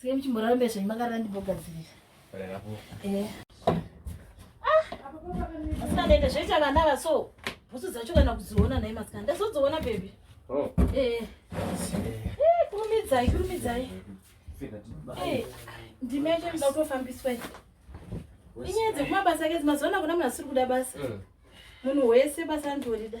Sike muchimboraramba zvenyu makarara ndimbogadzirira. Eh. Ah, Asikaende zvoita vana ava so. Bhutsu dzacho kana kudziona nhai masikana. Ndazodziona baby. Oh. Eh. Eh, kurumidzai, kurumidzai. Eh, ndime yacho ndoda kutofambiswa. Inyaya dzekumabasa ake dzimazona kuna munhu asiri kuda basa. Eh. Munhu wese basa ndorida.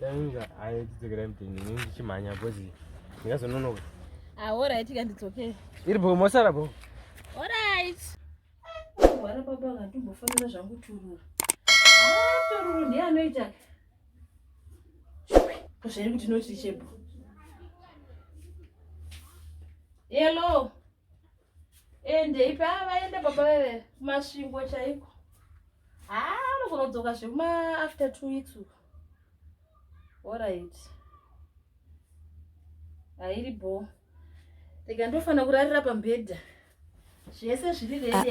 Tanga ayo tidzokera mutini ini ndichimhanya because ndingazononoka. Ah, all right ka ndidzokere. Iri bho mosara bho. All right. Wara baba ngatimbofanira zvangu turura. Ah, tururu ndiye anoita. Zviri kuti noti chebho. Hello. endei paa vaenda baba veve kumasvingo chaiko haa anogonodzoka zvekuma after two weeks uko orit hairi bo rega ndofanira kurarira pambedha zvese zviri redi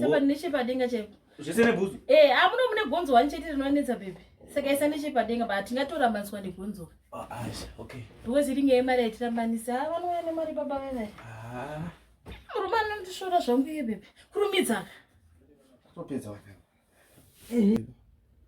saka nechepadenga chaipo zvese nebhuzu eh amuno ah, mune gonzo wani chete rinonetsa pepe saka isa nechepadenga but tingatorambaniswa negonzo ah, ah, okay because iringe yemari yatirambanisa ah vanouya nemari baba venai ah murume anondishora zvangu iye pepe kurumidzaka topedza wakati eh.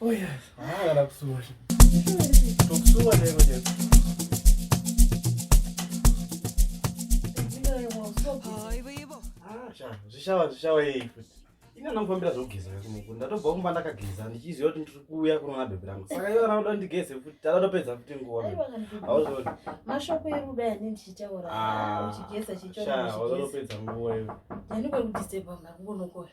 Oh yes, ah, kana kusuwa. Tokusuwa lero chete. Zvishawa zvishawa yei futi. Ina ndakufambira zvokugeza kakumoko. Ndatobva kumba ndakageza ndichiziva kuti ndiri kuuya kunoona bhebhi rangu. Saka iwe kana uda ndigeze futi tadatopedza futi nguva. Hauzoni. Mashoko eruda yani ndichitaura. Ah, uchigeza chichona. Shaa, wazotopedza nguva iwe. Ndani kwekudisturba mna kungonokora.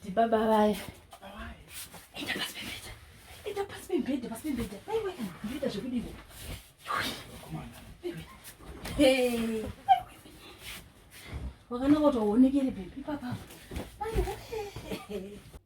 ndibaba vaya enda pasi pembedha enda pasi pembedha pasi pembedha aiwa ndoita zvekudii wakanaka kuti waonekere bhebhi papapo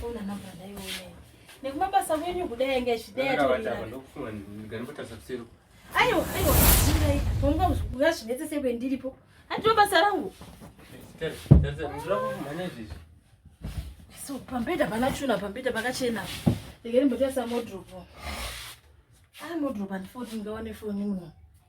Fona namba ndaiona. Nekumabasa kwenyu kudai yanga ichidai atorira. Ndokufunga ndiganobotasa kuseri. Ayo, ayo, ndai. Honga ngazvinetse sekwe ndiripo. Handiro basa rangu. Tere, tere, ndira kumhanya izvi. So, pambeda pana chuna, pambeda pakachena. Ndikari mbotoisa modropo. Ah, modropo handifoti ngawane foni muno.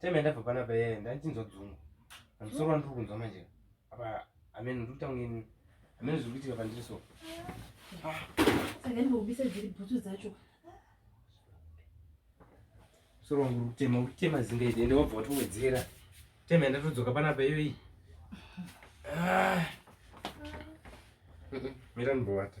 time yandabva panapa yeye ndandichinzwa dzungu pamusoro wandiri kunzwa manje apa amen ndiri kutanga ini amen zviri kuitika pandiri so sakandibobisa dziri bhutsu dzacho musoro wangu uri kutema uri kutema zinga ide ende wabva watowedzera time yandatodzoka panapa iyo iyi ah. mira ndibowata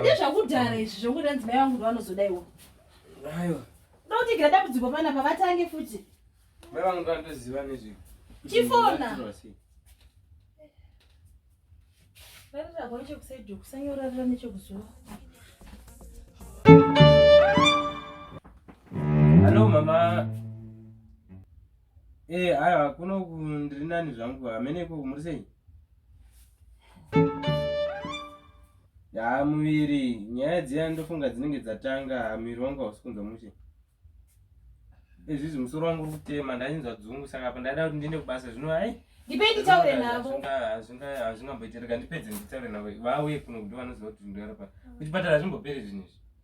Ndezvakudhara izvi zvokuda ndzimai vangu ndovanozoda iwo. Aiwa. Ndotigira dambudziko pana pavatange futi. Mai vangu ndovanotoziva nezvi. Chifona. Variragwa nechekusaidio kusanyorarira nechekuzuva. Hello mama. Eh, haya kuno ndiri nani zvangu hamene ikoko muri sei? Ya muviri nyaya dziya ndofunga dzinenge dzatanga muviri wangu hausi kunzwa mushe. Ezvizvi musoro wangu uri kutema ndachinzwa dzungu saka apa ndaida kuti ndiende kubasa zvino hai ndipei nditaure navo hazvingamboitirika ndipedze nditaure navo vauye kuno kuti vanoziva kuti ndorapa kuchipatara hazvimboperi zvinhu izvi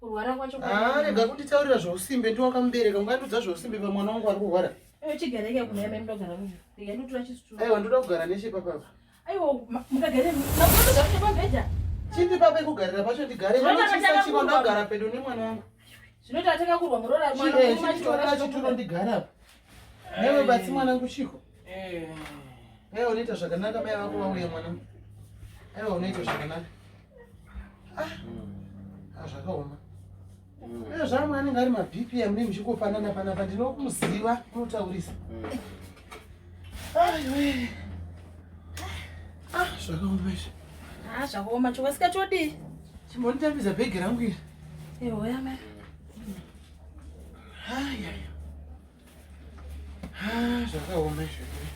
kurwara kwacho ah, rega kunditaurira zvousimbe ndi wakamubereka ungandiudza zvousimbe pamwana wangu ari kurwara chigareke kunaamai mudogara rega ndotora chisitu aiwa ndoda kugara neshe papapa aiwa mukagare makotogakuta pabhedha chipi papa ikugarira pacho ndigare vanochisa chiko ndagara pedo nemwana wangu zvinoita atanga kurwa muroora mwana achitoro ndigara apa Newe batsi mwanangu chiko. Eh. Hey, unoita zvakanaka mai vako vauye mwanangu. Hey, unoita zvakanaka. Ah. Ah, zvakaoma. Mm. Hey, zvamwe anenge ari maBPM ne muchikofanana panapa ndinokumuziva unotaurisa. Mm. Ai we. Ah, zvakaoma izvi. Ah, zvakaoma chokasika chodii? Chimbonditambidza bhegi rangu iri. Ehoya mai. hayaya ah, zvakaoma izvozvo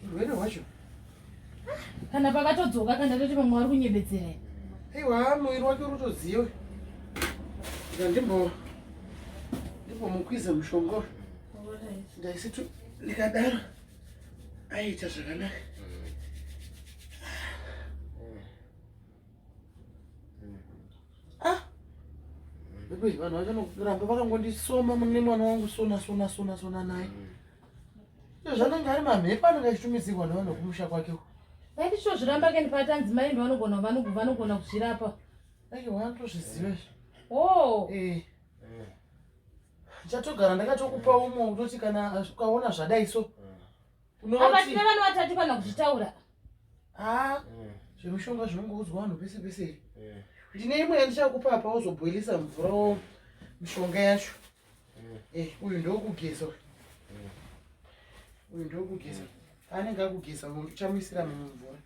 urwere hwacho kana pakatodzoka kana toti vamwe vari kunyebedzera aiwa muviri wake unotoziva ika ndimbo ndimbomukwiza mushonga ndaisitu ndikadaro aiita zvakanaka ah because vanhu vachanogiramba vakangondisoma mune mwana wangu sona sona sona sona naye zvanenge ari mamhepo anenge achitumidzirwa nevanhu vekumusha kwake vaiti sho zviramba keni pati anzi mai ndo vanogona vanogona kuzvirapa ake wanatozviziva izvi o oh. eh. chatogara ndakatokupa umwe kutoti kana ukaona zvadai so apa tine vana vatatu kana kuzvitaura haa ah, eh. zvemushonga zvinongoudzwa vanhu pese pese iri eh. ndine imwe yandichakupa apa wozobhoilisa mvura wo mishonga yacho eh. uyu ndokugeza uyu ndokugeza anenge akugeza uchamuisira mumvura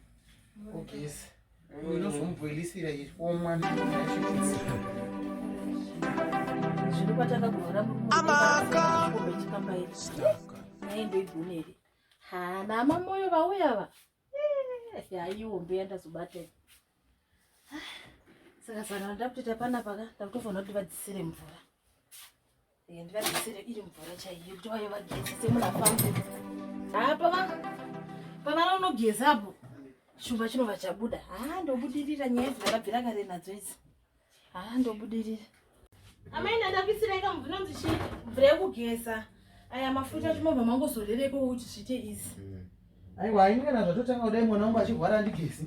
ogeza Unozomubhoilisira omwa zvino kwatanga kuvhura muchipamba iri naye ndoigonere ha nama moyo vauya va haiwo mbeya ndazobata saka sangana ndakutoita panapa ka ndakutofanira kuti vadzisire mvura Eh, ndivabetsere iri mvura chaiyo kuti vaye vageze semunafamba haa pava pavana unogeza apo chumba chinova chabuda haa ndobudirira nyaya idzi vakabvira kare nadzo idzi haa ndobudirira amai ndandapisireika mvura nonzi chi mvura yekugeza aya mafuta chimobva mangozorereko kuti zviite izi hmm. aiwa aingana zvatotanga kudai mwana wangu achirwara andigezi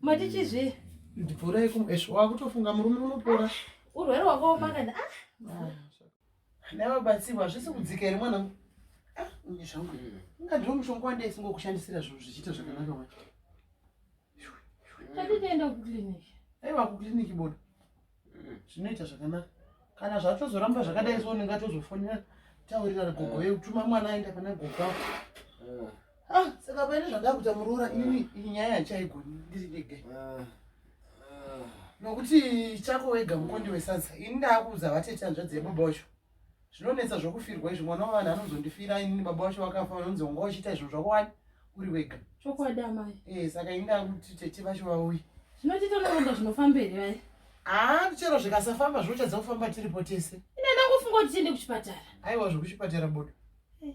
matichizve ndipora yekumwesvo wakutofunga murume unopora urwere wakaomakana ah, ah. navabatsirwa hazvisi kudzika here mwana ah, unye zvangu ungadiwo mushonga wandai singokushandisira zvinhu zvichiita zvakanaka wa tatitoenda kuclinic aiwa kuclinic bodo zvinoita zvakanaka kana zvatozoramba zvakadai so unenge atozofonera taurirana gogo ye utuma mwana aenda pana gogo ako eh. ah, saka paine zvandava kuita muroora eh. ini iyi nyaya yandichaigoni ndiri ndege eh. nokuti chako wega mukondi wesadza ini ndaakuudza vatete hanzvadzi yebaba wacho zvinonetsa zvokufirwa izvi mwana wavanhu anozondifira inini baba wacho vakafa vanonzi wanga uchiita izvo zvako wani uri wega chokwadi amai e eh, saka inda kuti tete vacho vauyi zvinotiita noronda zvinofamba here vai haa chero zvikasafamba zvinotadza kufamba tiripo tese ine ndangofunga kuti tiende kuchipatara aiwa zvokuchipatara bodo eh.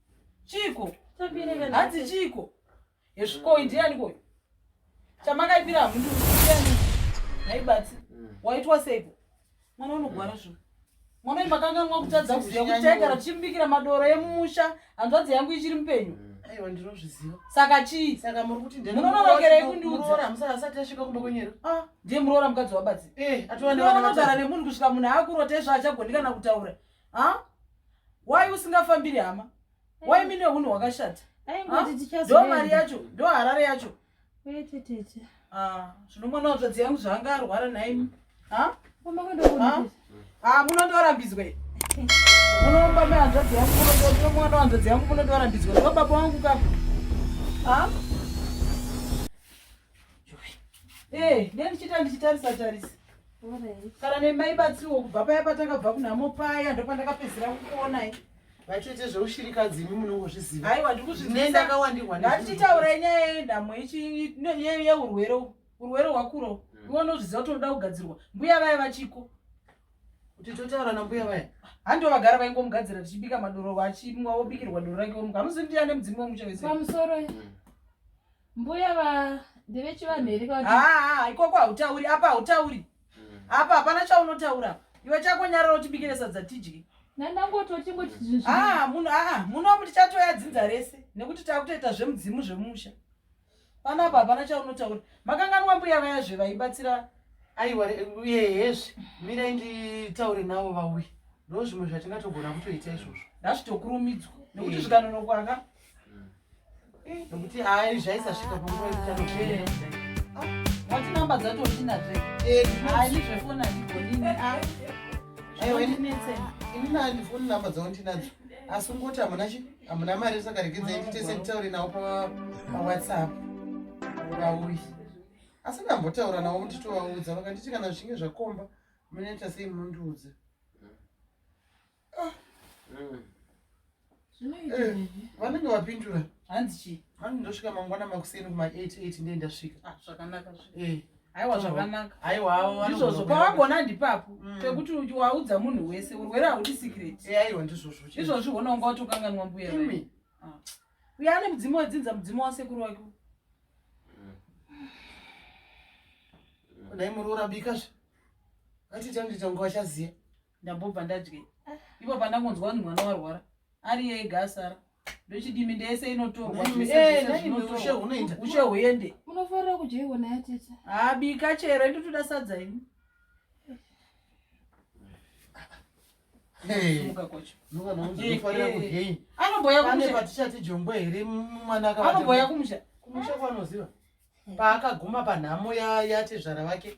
Chiko. Hanzi chiko. Yesvikoi ndiani koi? Chamakaipira mundu ndiani? Naibatsi. Mm. Waitwa seipo. Mwana unogwara zvo. Mwana imakanganwa kutadza kuziva kuti chaigara tichimubikira madoro emumusha hanzvadzi yangu ichiri mupenyu. Mm. Aiwa ndinozviziva. Saka chii? Saka muri kuti ndini. Munononokerei kundiudza? Muroora musaka asati asvika kumba kwenyero. Ah, ndiye muroora mukadzi wabatsi. Eh, atova nevana vatara nemunhu kusvika munhu akurota izvo achagoni kana kutaura. ha why usingafambiri hama why mine hunhu hwakashata ndo mari yacho ndo harare yacho zvino mwana watsvadzi yangu zvaanga arwara nhaimi ha ha munondorambidzwe munoomba mehanzvadzi yangu mwana wanzvadzi yangu munondorambidzwe ndo baba wangu kapo ha Eh, ndiye ndichita ndichitarisa tarisa. Kana nemai batsiwo kubva paya patakabva kunhamo paya ndopandakapedzera kukuona i. Vachete zveushirikadzi imi munongozviziva. Haiwa ndikuzviziva ndakawandirwa ndizvo. Ngatichitaura nyaya yenhamo ichi yeurwere urwere hwakuro. Hmm. Iwe unozviziva kuti unoda kugadzirwa. Mbuya vaya vachiko. Kuti totaura nambuya vaya. Hando vagara vaingomugadzira tichibika madoro vachimwa wobikirwa doro rake womuka. Hamuzivi kuti ane mudzimu wemuchevese. Pamusoro. Mm. mbuya va ndevechivanhu here haa ah, ah, ikoko hautauri apa hautauri hmm. apa hapana chaunotaura iwe chako nyarara utibikire sadza tidye nandangototingotimunhu ah, amu tichatoya dzinza rese nekuti takutoita zvemudzimu zvemusha panapa hapana chaunotaura makanganwa mbuya vaya zve vaibatsira aiwa yehezve mirai nditaure navo vauye ndo zvimwe zvatingatogona kutoita izvozvo ndazvitokurumidzwa nekuti zvikanonokwaka nokuti hayi zvaisasvika panguva yekuti wati namba dzatotinazve hayi ndizvefoni andigonini aiwa inini andifoni namba dzaondinadzo asi ungoti hamuna chi hamuna mari saka rekidzai nditese nditaure nawo pawhatsapp vauyi asi ndambotaura nawo kuti tovaudza vakanditi kana zvichinge zvakomba munoita sei munondiudza vanenge vapindura hanzi chii hanzi ndosvika mangwana makuseni kuma 88 ndiye ndasvika ah, zvakanaka eh. aiwa zvakanaka aiwa ndizvozvo pawagona ndipapo mm. pekuti waudza munhu wese urwere haudi sikireti eh, aiwa ndizvozvo izvozvi hona unga watokanganwa mbuya ah. uye ane mudzimu wedzinza mudzimu wasekuru wake kudai muroora bikazve atitandiita unga wachaziva ndambobva ndadye ivo pandangonzwa kuti mwana warwara ari yega asara ndochidimi ndese inotorwaushe huende unofarira kudya iwona yatete habika chero indotoda sadza ini anomboya kumusha kumusha kwanoziva paakaguma panhamo yatezvara vake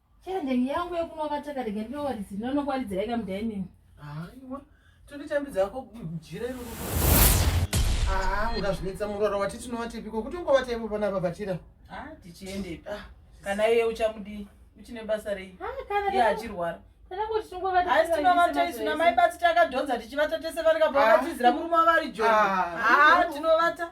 Chero ndenge yangu yekunova takarega ndinowaridzi ndinonokuwaridza yeka mudining. Aiwa. Tonditambidza ko jira iro. Ah, ungazvinetsa murwara wati tinovatepiko kuti ungovata ivo pana babatira. Ah, tichiendepi. Ah. Kana iye uchamudi uchine basa rei? Ah, kana iye achirwara. Aisinovataisu namai basi takadhonza tichivata tese vari kabva vakatizira ah. murume wavari joni. Ah, ah tinovata.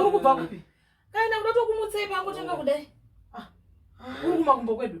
uri kubva kupi kana kuda tokumutsei pangu tanga kudai ah. uri kumakumbo kwedu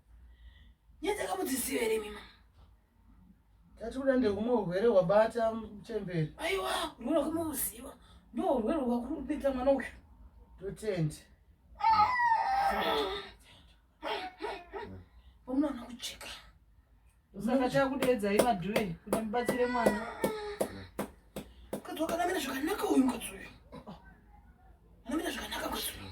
Nyaya dzakamudziziva here mima? Tati kuda ndekumwe urwere hwabata muchembere. Aiwa, urwere hwakamuziva. Ndoo urwere hwakurupedza mwana uyu. Totende. Pamwana kucheka. Saka chakudeedza imaduwe kuti mubatsire mwana. Mukadzi wakanamira zvakanaka uyu mukadzi uyu. Anamira zvakanaka mukadzi uyu.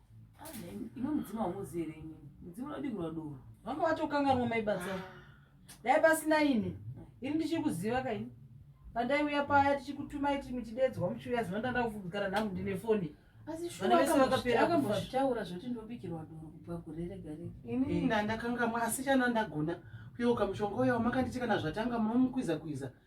ino mudzimu haumuzivi here inini mudzimu unodingura doro vanga vatokanganwa maibatsa dai pasina ini ini ndichiri kuziva kaini pandaiuya paya tichikutumai ti muchidedzwa muchiuya zino ndanda kugara nhamu ndine foni akambotaura zvoti ndobikirwa doro kubva kureregarega ini ndandakangamwa asi chana ndagona kuyeuka mushonga uya wamakanditikana zvatanga munomukwiza kwiza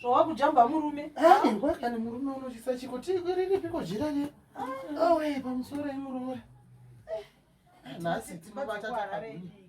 zvawakujamba murume airwa kana murume unotyisa chiko tiriripiko jira riya owe ah. pamusoro imuroora eh. nhasi tinobata takagwinya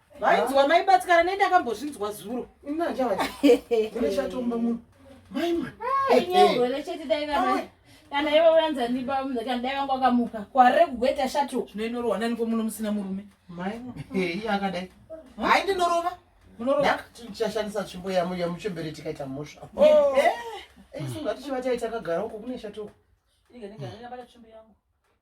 vainzwa mai batikana nei ndakambozvinzwa zuro inanjavachatomba munhu mai mwana nyangwele chete dai kana kana iwe uyanza ndiba munhu kana dai vanga wakamuka kwarire kugweta shato zvinoinorwa nani ko muno musina murume mai iye akadai hai ndinorova munorowachashandisa tsvimbo yamuchembere tikaita mhosva isunga tichiva taita kagara uko kune shato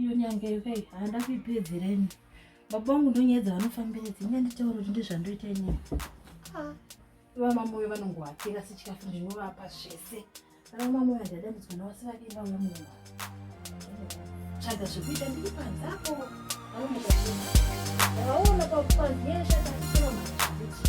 iyo nyanga iyo kai handa kuipedzereni baba vangu ndonyedza vanofambira dzinga nditaura kuti ndizvandoita inini ah. vamamoyo vanongohakira sechikafu ndinovapa zvese vamamoyo handadambidzwa navasi vadii vauya mumba tsvaga zvekuita ndiri panze apo vanomukaavaona pakupanzi yeshataakutoramaakuti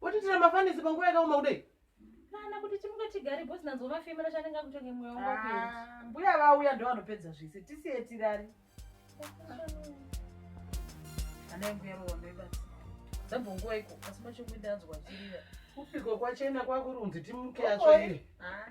Wotitira mafanisi panguva yakaoma kudai. Kana kuti timuke tigare boss nanzwa mafemera chanenge akutonge mwoyo wangu ah, kuenda. Mbuya vauya ndo vanopedza zvese. Tisiye tirari. Ana yangu yaro wamebata. Dzabva nguva iko asi macho kuinda anzwa chirira. Kupiko kwachena kwakurunzi timuke acho iri. Ah.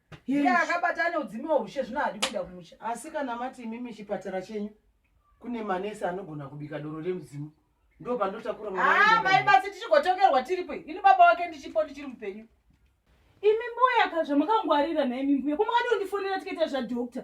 iye akabata ane udzimi wahushe zvino hadi kuenda kumusha asi kana mati imimi chipatara chenyu kune manesi anogona kubika doro remudzimu ndo pandotakura ah, mai basi tichigotongerwa tiripo ini baba wake ndichipo ndichiri mupenyu imi mbuya ka zvamukangwarira naimi mbuya komakati undifonera tikaita zvadoctor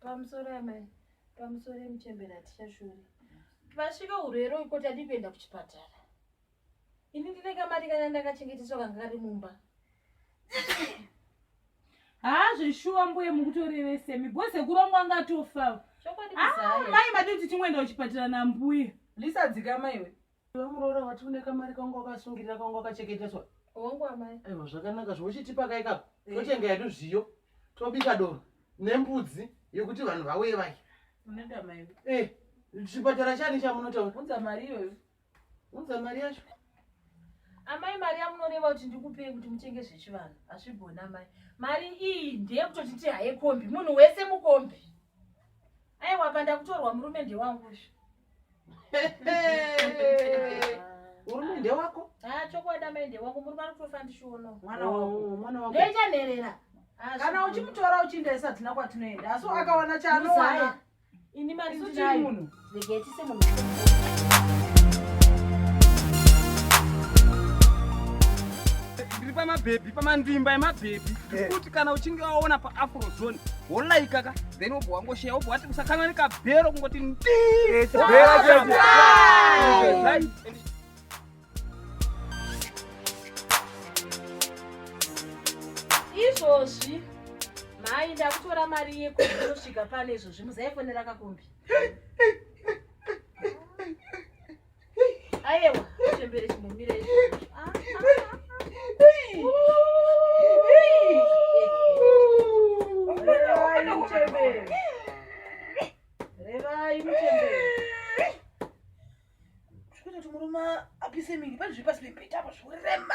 Pamusoro amai, pamusoro emuchembere hatichashori. Pasvika urwere uko tadi kuenda kuchipatara. Ini ndine kamari kana ndakachengeteswa kanga kari mumba. Haa ah, zveshuwa mbuye mukutorevese mi bhoze kurongwa angatofa. Chokwadi kuzaya. Ah, mai madii kuti timwenda kuchipatara nambuye. Lisa dzika maiwe. Iwe muroora wati une kamari kangu wakasungirira kangu wakacheketeswa. Wangu amai. Aiwa zvakanaka zvochitipa kai kako. Eh. Totenga yedu zviyo. Tobika doro nembudzi yekuti vanhu vauye vaye. Unoda mai. Eh, chipatara chani chamunotaura? Unza mari iyoyo. Unza mari yacho. Amai mari yamunoreva kuti ndikupei kuti mutenge zvechivanhu. Hazvigona amai. Mari iyi ndeye kutoti tihaye kombi. Munhu wese mukombi. Aiwa apa ndakutorwa murume ndewangu izvo. hurumende wako ah, chokwadi amende wako muri vari kutofa ndishiono mwana oh, wako mwana wako ndoita nherera ah, kana uchimutora uchiinda isati tina kwatinoenda asi oh. akawana chaanowana ini mari ndinayo munhu regetise munhu ndiri pamabhebhi pamanzvimba yemabhebhi eh. kuti kana uchinge waona paafrozone wolaikaka then wobva wangosheya wobva wati usakanwa nekabhero kungoti ndii izvozvi mhai ndakutora mari yekuosvika pano izvozvi muzaifonera kakumbi Ayewa, chembere chimumire. Ah, Murume apise mini, pane zviri pasi pembeta apa zvorema.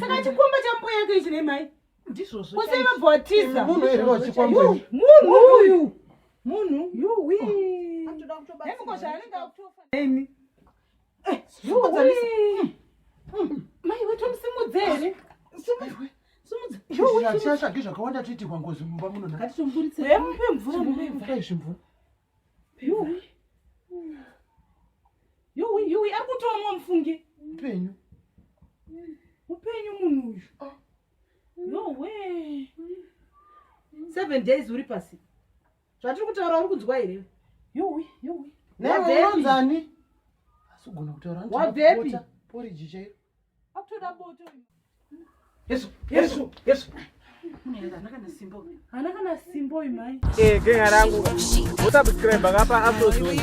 saka chikomba chambuya yake ichi nemai ndizvozvosevabotizamunhuuyu munhu yuwi zvichashage zvakawanda toitirwa ngozi mumba munonaaiuyi ari kutomwa mufunge upenyu upenyu munhu uyu ah. nowe seven days uri pasi zvatiri kutaura uri kunzwa here yuwi yuwi neunonzani asi ugona kutaura wabvepi poriji chairo akutoda boto yesu yesu yesu hana kana simbo imai eh, genga rangu wosubscribe ngapa afrozone